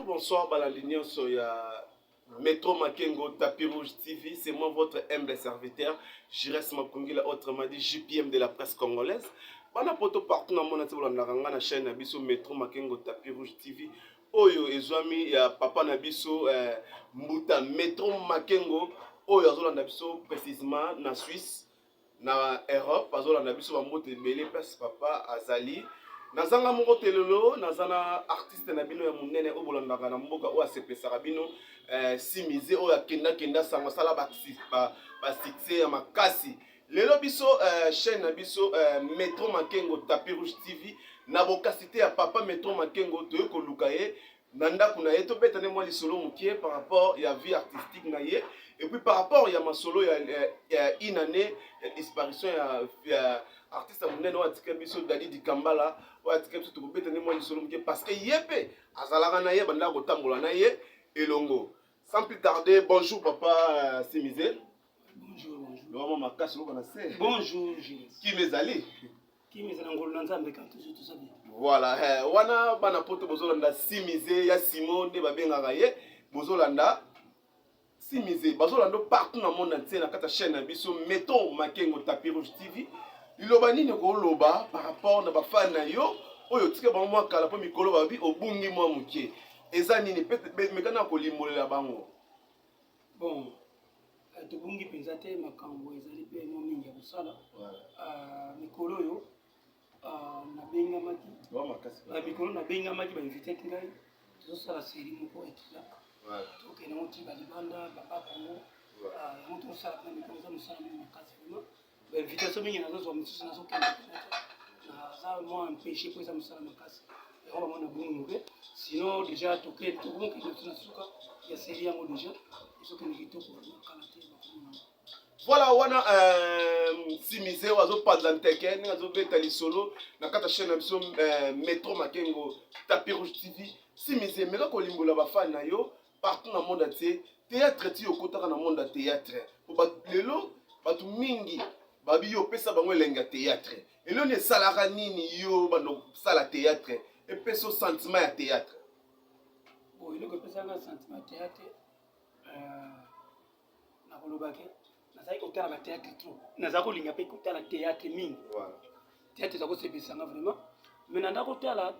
Bonsoir balandi nyonso ya Metro Makengo Tapis Rouge TV, c'est moi votre humble serviteur, Jires Makungila, autrement dit JPM de la presse congolaise. Bana poto partout na mona tibola na kanga na chaîne na biso Metro Makengo Tapis Rouge TV. Oyo ezwami ya papa na biso eh, Mbuta Metro Makengo oyo azolanda biso précisément na Suisse. na Europe azolanda biso bambote ebele place papa azali nazanga moko te lelo naza na artiste na bino ya monene oyo bolandaka na mboka oyo asepesaka bino eh, simize oyo akendakenda sango asala basuccès ya makasi lelo biso eh, chaîne na biso eh, metro makengo tapi rouge tv na bokasi te ya papa metro makengo toyei koluka ye na ndako na ye tobeta nde mwa lisolo moke par rapport ya vie artistique na ye et puis par rapport ya masolo ya, ya, ya une année ya disparition ya, ya artiste ya monene oyo atika biso dadi dikambala oyo atika biso tokobeta nde mwa lisolo moke parce que ye mpe azalaka na ye bandaka kotambola na ye elongo sans plus tarder bonjour papa euh, simise bonjour bonjour makasi lokola na se bonjour kima ezali Kimi ezala ngolu na Nzambe quand toujours tout ça bien. Voilà, eh, wana bana poto bozolanda Simize ya Simon nde babengaka ye bozolanda Simize bazolanda partout na monde entier na kati ya chaîne na biso mettons Makengo Tapis Rouge TV liloba nini okoloba par rapport na bafani na yo oyo otika bango mwa kala mpo mikolo babi obungi mwa moke eza nini mekana kolimbolela bango bon Eh, tobungi mpenza te makambo ezali mpe mo mingi ya kosala ah, mikolo oyo ah, nabengamaki ah, mikolo nabengamaki bainvitete ngai tozosala seri moko ekila tokende yango ti balibanda baba kongo yango tozosala mpe mikolo eza mosala moko makasi vraimen invitation mingi nazozwa mosusu nazokende naza mwa empêche mpo eza mosala makasi yango bango na bongo moke sinon déjà toke tokomokende na tuna suka ya seri yango déjà ezokende kitoko kala te voilà wana euh, simize oyo azopanza nteke ndenge azobeta lisolo na kati ya chaîne na biso euh, metro makengo tapi rouge tv simize meka kolimbola bafani na yo partout na monde entier théâtre ti okotaka na monde ya théâtre po lelo bato mingi babi yo opesa bango elengi ya théâtre elelo nini esalaka nini yo banda kosala théâtre epesa sentiment ya théâtre eloko epesaka sentiment ya théâtre euh, nakolobake nazalaki kotala bateatre trop nazalaki kolinga mpe kotala teatre mingi teatre eza kosepelisa nga vraiment mais nanda kotala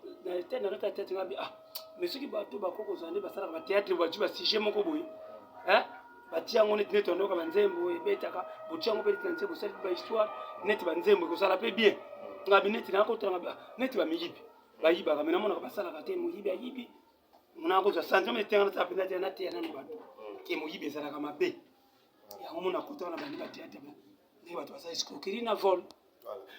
natala teatre ngabi ah mais soki bato bako kozala nde basalaka bateatre bati basujet moko boye batia yango neti neti bandoka banzembo ebetaka botia yango mpe neti na nse bosali mpe bahistoire neti banzembo ekozala mpe bien ngabi neti nakotala ngabi ah, neti bamiyibi bayibaka me namonaka basalaka te moyibi ayibi mona kozwa sanza mona etenga nasala mpenza te nateya nano bato ke moyibi ezalaka mabe yango mona kotaka na bandi bateya te ndenge bato basala escroquerie na vol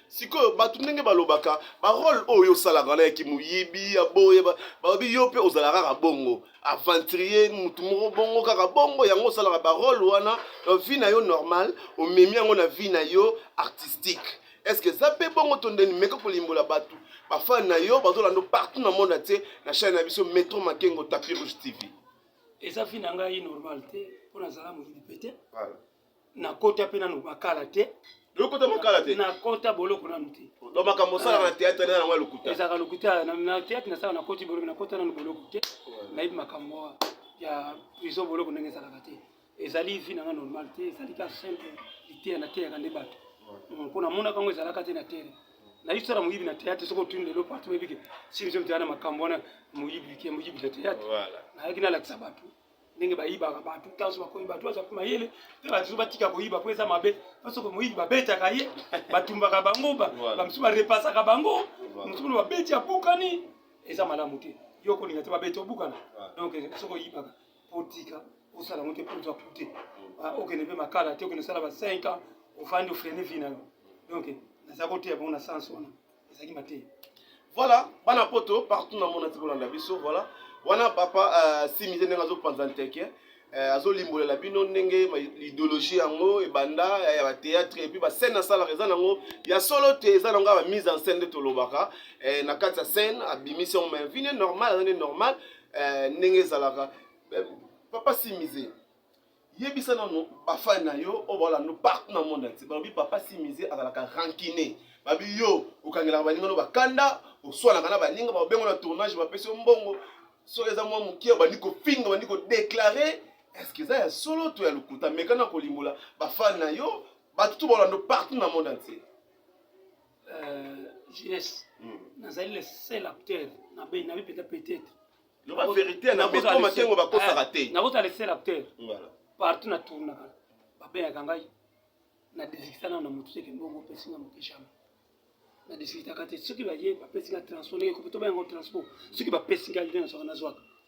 sikoyo bato ndenge balobaka barole oyo osalaka wana ya kimoyibi ya boye balobi yo mpe ozala kaka bongo aventurier motu moko bongo kaka bongo yango osalaka barole wana na vie na yo normal omemi yango na vie na yo artistique eske eza mpe bongo to ndeni meka kolimbola bato bafani na yo bazolanda partout na monde atie na chaine na biso metro makengo tapi rouge tv eza fi na ngai normal te mpo nazala moyibi mpe te nakota mpe nano makala te lokota makala te nakota boloko nanu te do makambo osalaka na théâtre nde nango ya lokuta ezalaka lokuta na théâtre nasala nakoti boloko nakota nanu boloko te nayebi makambo ya prison boloko ndenge ezalaka te ezali vie na nga normal te ezali ka simple liteya nateyaka nde bato mpo namonaka yango ezalaka te na tere nayisala moyibi na teyatre soki otuni lelo partout oyebike simsio mteya na makambo wana moyibi ke moyibi na teyatre nayaki nalakisa bato ndenge bayibaka bato ntanso bakoyi bato baza mpe mayele mpe bato batika koyiba mpo eza mabe mpo soki moyibi babetaka ye batumbaka bango bamosusu barepasaka bango mosusu mona babeti abukani eza malamu te yo kolinga te babeti obukana donc soki oyibaka otika osala yango te mpo ozwa kute ah, okende mpe makala te okende osala ba 5 ans ofandi ofrene vie na yo donc naza koteya bango na sens wana ezalaki mateya voilà bana poto partout na mona ti kolanda biso voilà wana papa euh, simize ndenge azopanza nteke euh, azolimbolela bino ndenge idéologie yango ebanda euh, ya batéâtre epuis bascène asalaka eza nango ya solo te eza nango ya bamise en scène nde tolobaka na kati ya scène abimisi yango mais vine normal aza nde normal eh, ndenge ezalaka eh, papa simize yebisa nano bafani na yo oyo baolanda partout na monde entier balobi papa simize azalaka rankine babi yo okangelaka baninga no bakanda oswanaka na baninga babengo na tournage bapesi yo mbongo soki eza mwa moke obandi kofinga obandi kodeklare eske eza ya solo to ya lokuta mekana kolimbola bafani na yo bato to baolanda partout na monde entier euh, jeunesse hmm. nazali le seul acteur na beni nabi peut-être peut-être loba vérité na beto makengo bakosaka eh, te nakozala le seul acteur partout na tournaka babengaka ngai na desikisana na motu seke mbongo opesi nga moke jamais na desikitaka te soki baye bapesi nga transport ndenge kopi tobenga ngo transport soki bapesi nga nde nazwaka nazwaka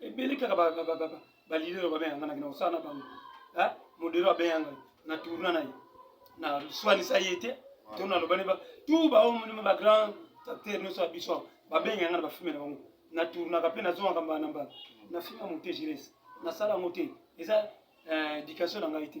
ebele kaka balidere babenga nga nakenda kosala na bango modero abenga nga na tourna na ye na swanisa ye te to nalobani ba tout baomonima bagrand acteur nyonso ya biso babenga nga na bafilme na bango na tournaka mpe nazongaka mbala na mbala na filme ya mote gires nasala yango te eza eh, éducation na ngai te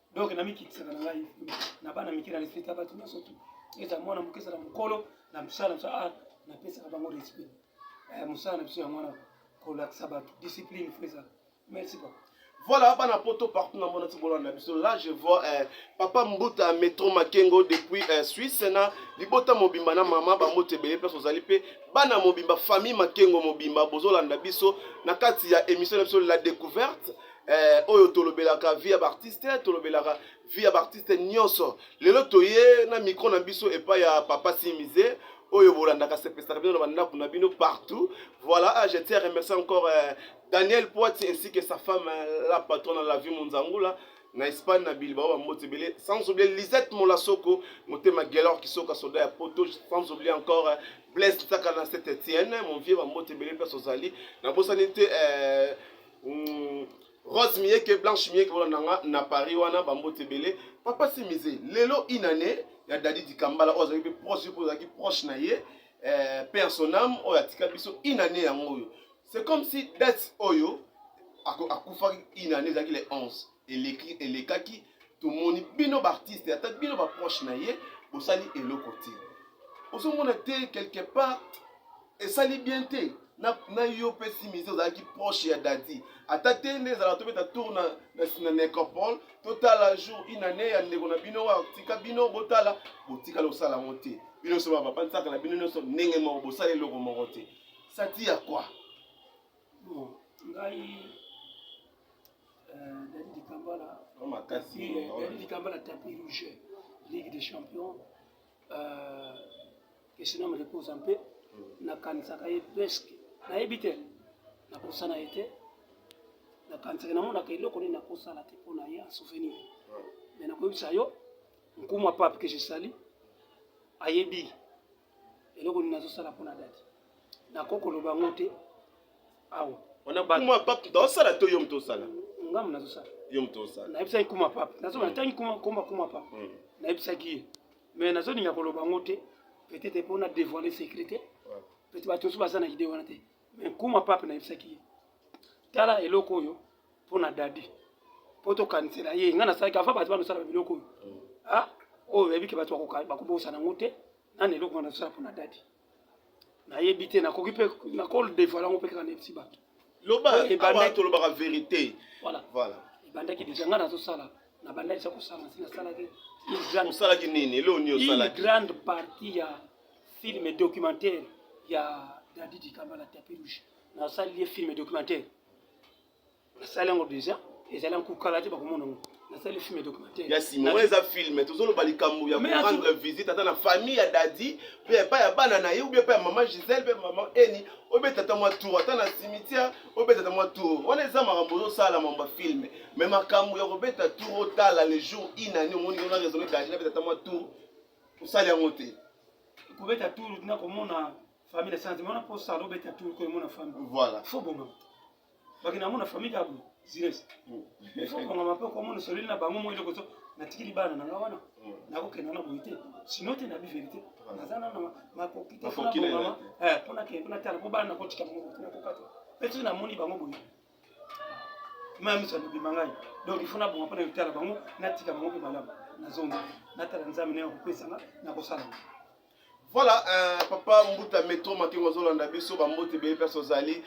donc namikitisaka na ngai na bana mike na respect ya bato nyonso tu eza mwana moke ezala mokolo na mosala mosala ah, napesaka bango respect eh, mosala na biso ya mwana kolakisa bato discipline fo ezala merci papa voilà bana poto partout na mona tibolana na biso là je vois eh, papa mbuta metro makengo depuis eh, suisse na libota mobimba na mama bambote ebele place ozali mpe bana mobimba famille makengo mobimba bozolanda biso na kati ya émission na biso la découverte eh, oyo tolobelaka vie ya baartiste tolobelaka vie ya baartiste nyonso lelo toye na micro na biso epai ya papa simize oyo bolandaka sepesaka bino na bandako na bino partout voilà ah, je tiens à remercier encore eh, daniel poiti ainsi que sa femme eh, la patronne la vie monzangula na espagne na bilbao bambote ebele sans oublier lisette molasoko motema gelor kisoka soda ya poto sans oublier encore eh, blaise ntaka na saint etienne mon vieux bambote ebele place ozali nabosani te eh, Mm, Rose Mieke, Blanche Mieke, voilà nanga na Paris wana bambote ebele. Papa Simize, lelo une année ya Daddy Dikambala oyo azalaki proche oyo azalaki proche na ye euh, père son âme oyo atika biso une année yango oyo. C'est comme si date oyo akufaki une année ezalaki le 11. eleki elekaki tomoni bino baartiste ata bino baproche na ye bosali eloko te ozomona te quelque part esali bien te na, na yo mpe simize ozalaki proche ya dadi ata te nde ezalaka tobeta tour na, na, na necropole totala jour une année ya ndeko na bino oyo atika bino botala botikala osala yango te bino nyonso bapapansaka na bino nyonso ndenge moko bosala eloko moko te sati ya kwa Bon, ngai euh, Dani Dikambala, Dani Dikambala tapis rouge, Ligue des Champions, euh, que son âme repose en paix, mm. nakanisaka ye presque, nayebi te, nakosana ye te, nakanisaka namonaka eloko nini nakosala te mpo na ye en souvenir, mais nakoyebisa yo, nkumu ya pape que je sali, ayebi eloko nini nazosala mpona dadi nakoki koloba yango te awa kuma pape tosala to yo moto osala ngambo nazosala yo moto osala nayebisaki kuma pape nazoba mm. natangi komba kuma pape mm. nayebisaki ye mais nazolinga koloba yango te peut-être mpo na dévoile sécurité peut-être bato mosusu baza na idée wana te mais kuma pape nayebisaki ye tala eloko oyo mpo na dadi mpo tokanisela ye ngai nasalaki ava bato banosalaka biloko oyo mm. ah, oyo oyebi ke bato bakobosana yango te nani eloko wana tosala mpo na dadi nayebi te nakoki mpe nakodevoile yango mpe kaka nayebisi bato loba awa tolobaka verité voilà voilà ebandaki deja ngai nazosala nabandaki sa kosala si nasalaki osalaki nini eloo nini osalaki grande partie ya film documentaire ya dadi dikamba la tapis rouge nasali ye film documentaire nasali yango deja ezali yango kokala te bakomona yango nasali film ya documentaire ya sima oyo eza film tozoloba likambo ya korendre visite ata na famille ya dadi mpe epai ya bana na ye obi epai ya mama gisele mpe mama eni obetata mwa tour ata na cimetière obetata mwa tour wana eza makambo ozosala mambo ya filme mai makambo ya kobeta tour otala le jour inani omoni ona raisonne dadi nabetata mwa tour osali yango te kobeta tour nakomona famille na santi mona posa alo beta tour ko mona famille voilà faut bonga baki na mona famille ya bulu zires mm. faut bonga mape ko mona solili na bango mo eloko so na tikili bana na ngawana mm. na ko kena na boite sinon te na bi verité na zana na ma ko kite na bonga eh pona ke pona tala ko bana ko tika mo ko na ko kata petu na moni bango boye meme ça nous bimangai donc il faut na bonga pona yotala bango na tika bango pe malamu na zonga na tala nzambe na ko pesa na ko sala Voilà, euh, papa Mbuta Metro Makengo azolanda biso bambote ebele place ozali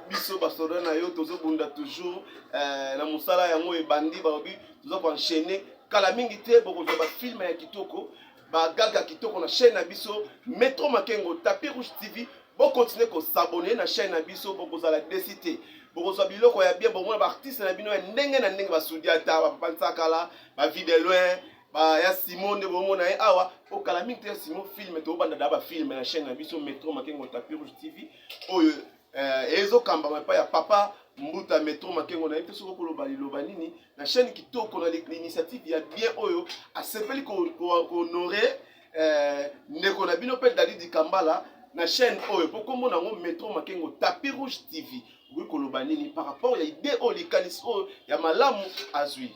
biso basoda na yo tozobunda toujours euh, na mosala yango ebandi balobi toza koenchaîne kala mingi te bokozwa bafilme ya kitoko bagaga kitoko na chaîne na biso Metro Makengo Tapis Rouge TV bokontinue kosabone na chaîne na biso bokozala desi te bokozwa biloko ya bien bomona baartiste na bino ya ndenge na ndenge basudi ata bapapa nsakala bavie de loin ba ya Simon nde bomona ye awa po kala mingi te ya Simon film tobanda da ba film na chaîne na biso Metro Makengo Tapis Rouge TV oyo eh, ezokambama epai ya papa mbuta metro makengo na ye mpe soki okoloba liloba nini na chaîne kitoko na l'initiative ya bien oyo asepeli kohonore eh, ndeko na bino mpe dadi dikambala na chaîne oyo mpo nkombo na yango metro makengo tapis rouge tv okoki koloba nini par rapport ya idee oyo likanisi oyo ya malamu azwi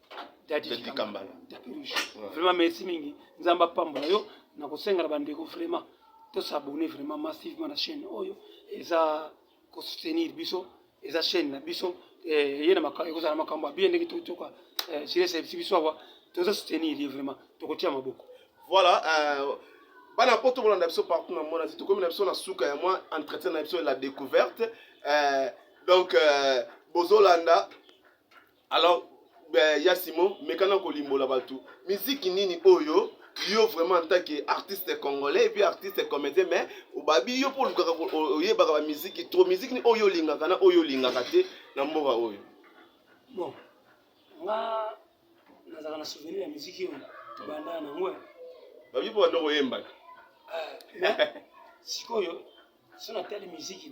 vraiment merci mingi nzambe apambola yo na kosenga na bandeko vraiment tosabone vraiment massivement na chaîne oyo eza kosoutenir biso eza chaîne na biso eh, ye na ekozala makambo abiye ndenge tokotoka eh, silesebisi biso awa toza soutenir ye vraiment tokotia maboko voilà euh, bana mpo tokolanda biso partout na mona tokomi na biso na suka ya mwa entretien na biso la découverte euh, donc euh, bozolanda alors eh, ya simon mekana kolimbola bato miziki nini oyo yo vraiment en tant que artiste congolais epuis artiste comédien mais obabi yo mpo olukaka oyebaka bamiziki trop miziki nini oyo olingaka na oyo olingaka te na mboka oyo bon nga nazalaka na souvenir ya miziki oyo tobanda na ngwe babi mpo bando koyembaka eh, sikoyo so natali miziki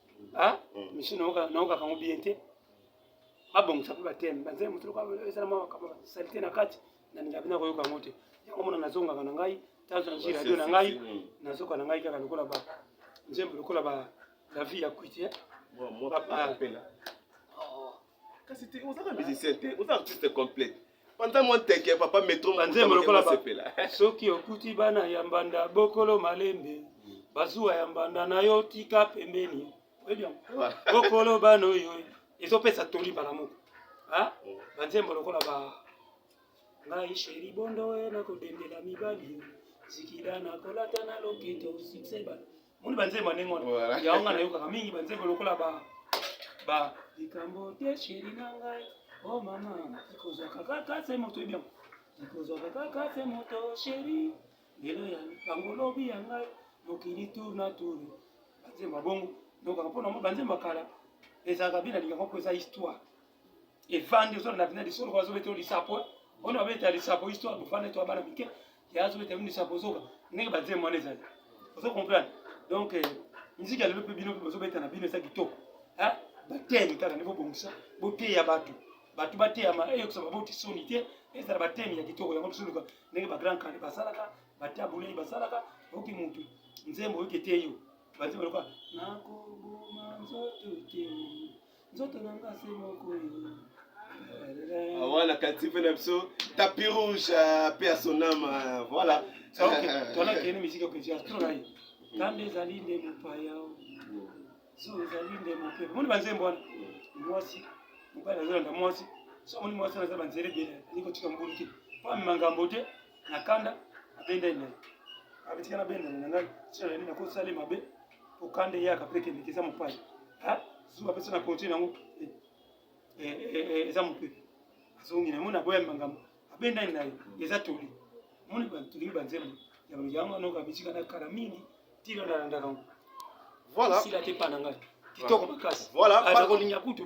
ah mm. misu naokaka ngo bien te babongisa mpe bateme banzela moto lokola ezala mwa makambo salite na kati nalinga bina koyoka yango te yango mona nazongaka na ngai tanso na nzwi radio na ngai nazoka na ngai kaka lokola ba nzembo lokola ba la vie ya kwiti eh. kasi te ozaka musicien te oza artiste complète panza mwa nteke ya papa metro banzembo lokola sepela soki okuti bana ya mbanda bokolo malembe bazuwa ya mbanda na yo tika pembeni bokolo bana oyo ezopesa toli mbala moko banzembo lokola ba ngai sheri bondo oyo nakodendela mibali zikida nakolata na loketo succès moni banzembo ya ndenge wana yango nga nayokaka mingi banzembo lokola ba ba likambo te sheri na ngai o oh mama ikozwaka kaka se moto oyebi yango ikozwaka kaka se moto sheri lelo ya bango lobi ya ngai mokili tour na tour banzembo ya bongo nokaka mpo na mo banzembo ya kala ezalaka bina lingaka mpo eza histoire evandi ozala na bina lisolo ko azobeta yo lisapo ona obeta lisapo histoire bofanda to abana mike ya azobeta yo lisapo zoka ndenge banzembo wana ezali ozo comprendre donc eh, miziki ya lelo mpe bino mpe bozobeta na bino eza kitoko batemi kaka nde bobongisa boteya bato bato bateyama eyokisa baboti soni te ezala batemi ya kitoko yango tosoluka ndenge bagrand kale basalaka batabulei basalaka oyoki motu nzembo oyoki eteyi yo banzembo lokola nakoboma nzoto te nzoto na nga se moko wana kati mpe na biso tapi rouge mpe ya sonama voilà tolakeni miziki okeji astronai nzambe ezali nde mopaya so ezali nde mope moni banzembo wana mwasi mobali azolanda mwasi so moni mwasi wana aza banzela ebele ali kotika mbulu te mpo amema ngambo te na kanda abendani naye abitika na bendani na ngai tina nani nakosali mabe okande eyaka mpe ekendeke eza mopaya zuwa apesa na konti nango eh, eh, eh, eza mope azongi na mona boya makambo abendani na ye eza toli moni tolingi banzembo yango wana okabisika na kala mingi tilo nalandaka ngo voilà sila te pa na ngai kitoko makasi voilà akolinga kutu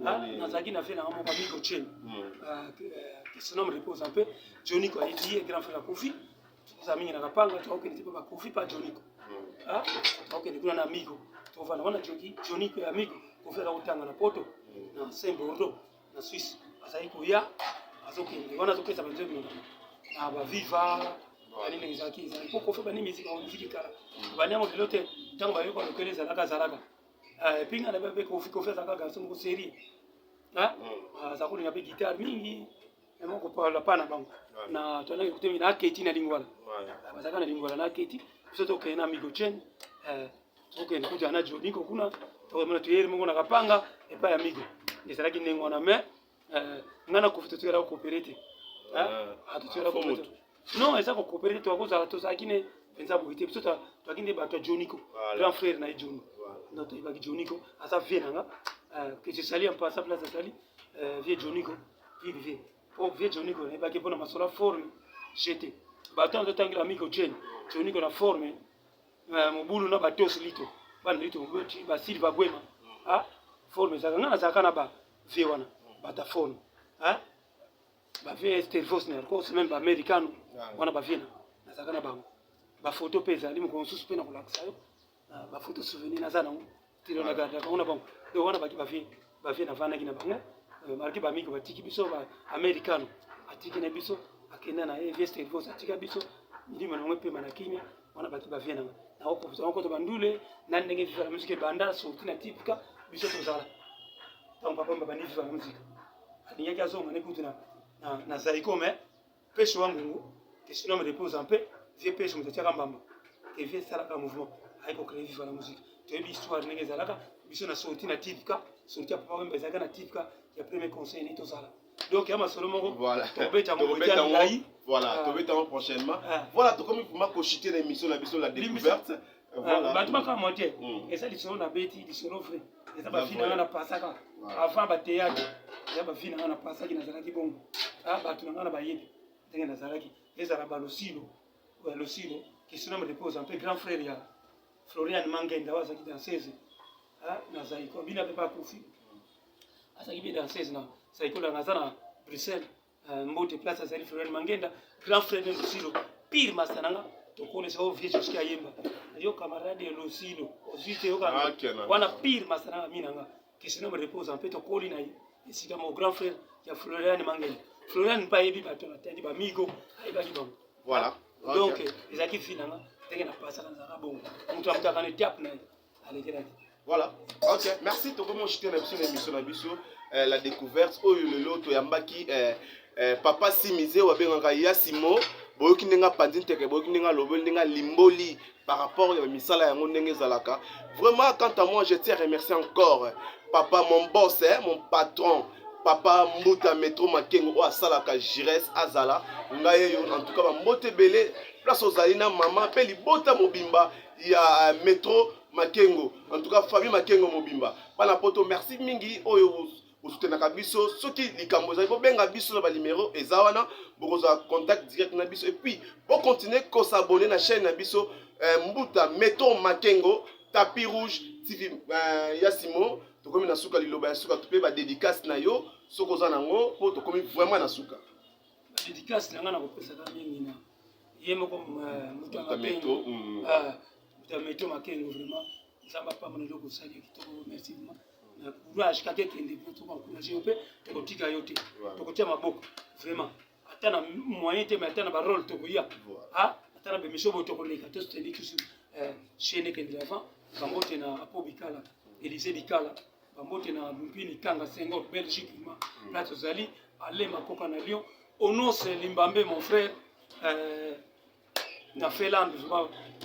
nazalaki na vie nanga moko amiko chen kesenome repose un peu joniko ayebi ye grand frère akofi toza mingi na kapanga tokokende te mpe bakofi mpa joniko tokokende kuna na amiko tovanda wana joki joniko ya amiko kofi aza kotanga na poto na saint bordeaux na suisse azali koya azokende wana azopesa banzo ebinga na baviva banini ezalaki ezalaki mpo kofi bani miziki bamiziki kala bani yango lelo te ntango bayoka lokele ezalaka azalaka Ah, epuis nga nabe mpe kofi kofi azalaka garso moko serie ah, hmm. aza kolinga mpe guitare mingi yango kopala pa na bango na toalaki kutemi na aketi na lingwala ah, bazalaka na lingwala na aketi biso tokende na migo chen eh, tokende kuta na joniko kuna tokomona toyeri moko na kapanga epai ya migo ezalaki ndenge wana mais eh, nga na kofi totikala kokopere te atotikala non eza kokopere te tokozala tozalaki ne mpenza boye te biso toyaki nde bato ya joniko grand frère na ye joni donc toyebaki joniko aza vie na nga eh, que je sali en passant place azali eh, vie joniko vie vie po vie joniko nayebaki mpona masolo forme jete bato yango totangela miko jeni joniko na forme mobulu na batosi lito bana lito basilva bwema ah, forme ezalaka ngai nazalaka na ba vie wana batafone hein ba vie estelvos na ko semaine ba americano wana ba vie na nazaka na bango ba photo pe ezali moko mosusu pe na kolakisa yo ah, ba photo souvenir naza nango tilo na garda bango na bango donc wana baki ba vie ba vie na vanaki na bango euh, malgré ba miki batiki biso ba americano atiki na biso akenda na ye vie estelvos atika biso milimo na bango epema na kimia wana bato bavie nanga nakoprofite nakokota bandule na ndenge viva la musique ebanda sorti na tipika biso tozala ntango papa babandi viva la musique alingaki azonga ne kutu na zaiko me pesho wa ngungu que son âme repose en paix vie pesho moto atiaka mbamba que vie esalaka mouvement aye kocree viva la musique toyebi histoire ndenge ezalaka biso na sorti na tipika sorti ya papa wemba ezalaka na tipika ya premier conseil ne tozala donc ya masolo moko tokobeta yango ngai voilà ah. tobeta yango prochainement ah. voilà tokomi vraimen kochite na émission na biso la découverte ah, bato bakamwa te hmm. eza lisolo na beti lisolo vrai eza bafi na nga na pasaka avant bateyatre eza bafi na nga na pasaki nazalaki bongo bato na nga na bayebi ndenge nazalaki ezala balosilo losilo kisinome repose mpe grand frère ya florian mangenda oyo azalaki dansese na zaiko bino mpe bakufi azali mpe danseuse na saikola na aza na bruxelles euh, mbote place azali florian mangenda grand frère de losilo pire masta na nga tokonesa o vie jusqui ayemba yo camarade ya losilo ozwi te yoka ah, wana pire masta na nga mi na nga kesina me repose mpe tokoli na ye esika mo grand frère ya florian mangenda florian mpe ayebi bato na tandi bamigo ayebaki bango voilà donc ezalaki vi na nga ndenge napasaka nazalaka bongo moto amutaka na etape na ye alekelaki voilà ok merci tokomi oshite na biso na émission na biso euh, la découverte oyo lelo toyambaki euh, euh, papa simize oyo abengaka ya simo boyoki ndenge apanzi nteke boyoki ndenge alobeli ndenge alimboli par rapport ya misala yango ndenge ezalaka vraiment quant à moi je tiens à remercier encore papa mon boss eh, mon patron papa mbuta metro makengo oyo asalaka gires azala ngai eyo en tout cas bambote ebele place ozali na mama mpe libota mobimba ya euh, metro makengo en tout cas famille makengo mobimba bana poto merci mingi oyo bosutenaka biso soki likambo ezali bobenga biso na banimero eza wana bokozwa contact direct na biso epuis bocontinue kosabone na chaîne na biso eh, mbuta metro makengo tapis rouge tv eh, ya simo tokomi na suka liloba ya suka to mpe badedicase na yo soki oza na yango mpo tokomi vraiment na suka dédicace na nga na kopesaka mingi na ye moko euh, moto ya makengo mm. ah, moto ya meto makengo vraiment nzambe apambola eloko osali ya kitoko merci vraiment na courage kaka ekende mpo tokoencourage yo mpe tokotika yo te tokotia maboko vraiment ata na moyen te mai ata na barole tokoya ah, ata na bemission boyo tokoleka to suteni tusu euh, chaine ekende avant bango te na apo bikala elise bikala bambote na mpini kanga sengo belgique ma mm. place ozali ale makoka na lyon onose limbambe mon frère euh, na finlande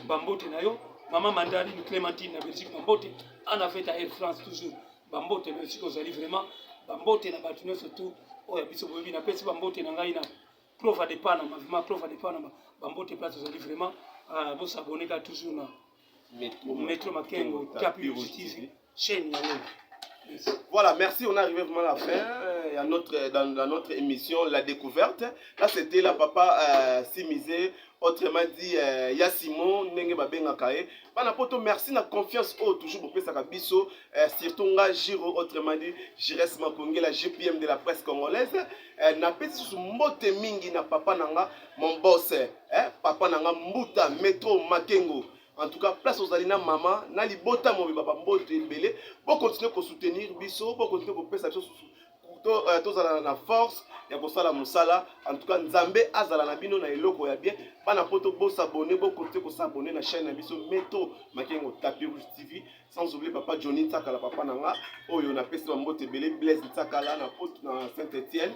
bambote na yo mama mandarine clémentine na belgique bambote ana feta air france toujours bambote na esika ozali vraiment bambote na bato nyonso tu oyo biso boyebi napesi bambote na ngai na clova de panama vraiment clova de panama bambote place ozali vraiment euh, bosaboneka toujours na Metro Makengo, Tapio TV, chaîne Yango. Voilà, merci, on est arrivé vraiment à la fin euh, à notre, euh, dans, dans, notre émission La Découverte. Là, c'était la papa euh, Simisé, autrement dit euh, ya simon ndenge babengaka ye bana poto merci na confiance oyo toujours bopesaka biso euh, surtout nga giro autrement dit gires makongela gpm de la presse congolaise euh, napesi susu mbote mingi na papa na nga Mon boss, eh, papa nanga mbuta metro makengo en tout cas place ozali na mama na libota mobimba bamboto ebele bokontinue kosoutenir biso bokontinue kopesa biso euh, tozala na force ya kosala mosala en tout cas nzambe azala na bino na eloko ya bien bana poto bosabone bokontinue kosabone na chaîne na biso meto makengo tapi rouge tv sans oublie papa johnny nsakala papa na nga oyo napesi bamboto ebele blaise nsakala na poto na saint etienne